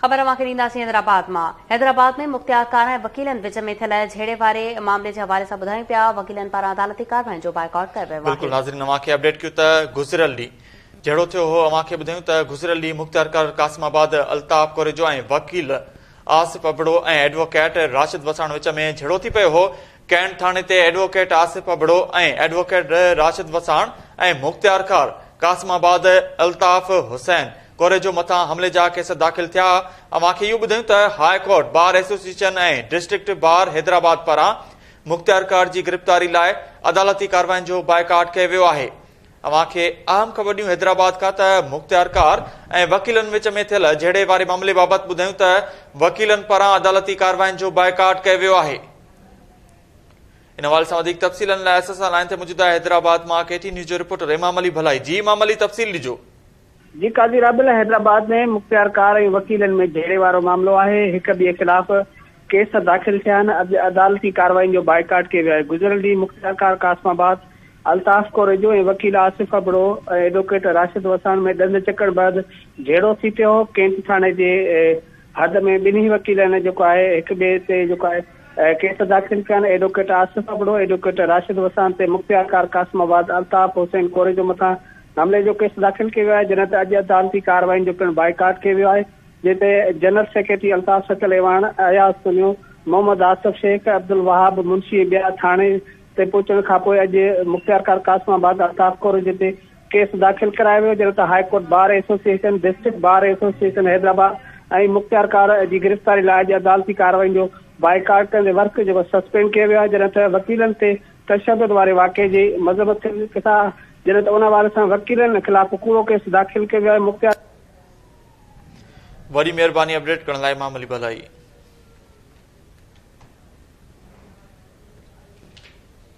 خبر اوهان کي ڏينداسين حيدرآباد مان حيدرآباد ۾ مختيارڪار ۽ وڪيلن وچ ۾ ٿيل جهيڙي واري معاملي جي حوالي سان ٻڌايون پيا وڪيلن پاران عدالتي ڪارواين جو بائيڪاٽ ڪيو ويو آهي. بلڪل ناظرين اوهان کي اپڊيٽ ڪيون ته گذريل ڏينهن جهيڙو ٿيو هو اوهان کي ٻڌايون ته گذريل ڏينهن مختيارڪار قاسم آباد الطاف ڪوريجو ۽ وڪيل آصف ابڙو ۽ ايڊووڪيٽ راشد وساڻ وچ ۾ جهيڙو ٿي پيو هو ڪينٽ ٿاڻي تي ايڊووڪيٽ آصف ابڙو ۽ ايڊووڪيٽ راشد وساڻ ۽ مختيارخار قاسم آباد الطاف حسين ڪوريجو مٿان حملي جا ڪيس داخل ٿيا اوهان کي اهو ٻڌايون ته high court bar association ۽ district bar Hyderabad پاران مختيارخار جي گرفتاري لاء عدالتي ڪارواين جو بائيڪاٽ ڪيو ويو آهي اوهان کي اهم خبر ڏيون حيدرآباد کان ته مختيارخار ۽ وڪيلن وچ ۾ ٿيل جهيڙي واري معاملي بابت ٻڌايون ته وڪيلن پاران عدالتي ڪارواين جو بائيڪاٽ ڪيو ويو آهي ان حوالي سان وڌيڪ تفصيلن لاء اسان سان لائن تي موجود آهي حيدرآباد مان ڪي ٽي نيوز جو رپورٽر امام علي ڀلائي جي امام علي تفصيل ڏجو جي قاضي رابيل حيدرآباد ۾ مختيار ڪار ۽ وڪيلن ۾ جهيڙي وارو معاملو آهي هڪ ٻئي خلاف ڪيس داخل ٿيا آهن اڄ عدالتي ڪارروائين جو بائيڪاٽ ڪيو ويو آهي گذريل ڏينهن مختيار ڪار قاسم آباد الطاف ڪوريجو ۽ وڪيل آصف ابڙو ۽ ايڊووڪيٽ راشد وساڻ ۾ ڏند چڪڻ بعد جهيڙو ٿي پيو هو ڪينٽ ٿاڻي جي حد ۾ ٻنهي وڪيلن جيڪو آهي هڪ ٻئي تي جيڪو آهي ڪيس داخل ڪيا آهن ايڊوڪيٽ آصف ابڙو، ايڊوڪيٽ راشد وسان تي مختيار ڪار قاسم آباد، الطاف حسين ڪوريجو مٿان حملي جو ڪيس داخل ڪيو ويو آهي جنهن تي اڄ عدالتي ڪارروائين جو پڻ بائيڪاٽ ڪيو ويو آهي جنهن تي جنرل سيڪريٽري الطاف سڪل ايواڻ، اياز پنيو، محمد آصف شيخ، عبدالوهاب منشي ۽ ٻيا ٿاڻي تي پهچڻ کانپوء اڄ مختيار ڪار قاسم آباد، الطاف ڪوريجو تي ڪيس داخل ڪرايو ويو جڏهن ته high court bar association, district bar association Hyderabad ۽ مختيارڪار جي گرفتاري لاء اڄ عدالتي ڪارروائين جو بائيڪاٽ ڪندي ورڪ جيڪو سسپينڊ ڪيو ويو آهي جڏهن ته وڪيلن تي تشدد واري واقعي جي مذمت ڪندي ڪيس آء جڏهن ته ان حوالي سان وڪيلن خلاف ڪوڙو ڪيس داخل ڪيو ويو آهي مختيار وڏي مهرباني اپڊيٽ ڪرڻ لاء امام علي ڀلائي.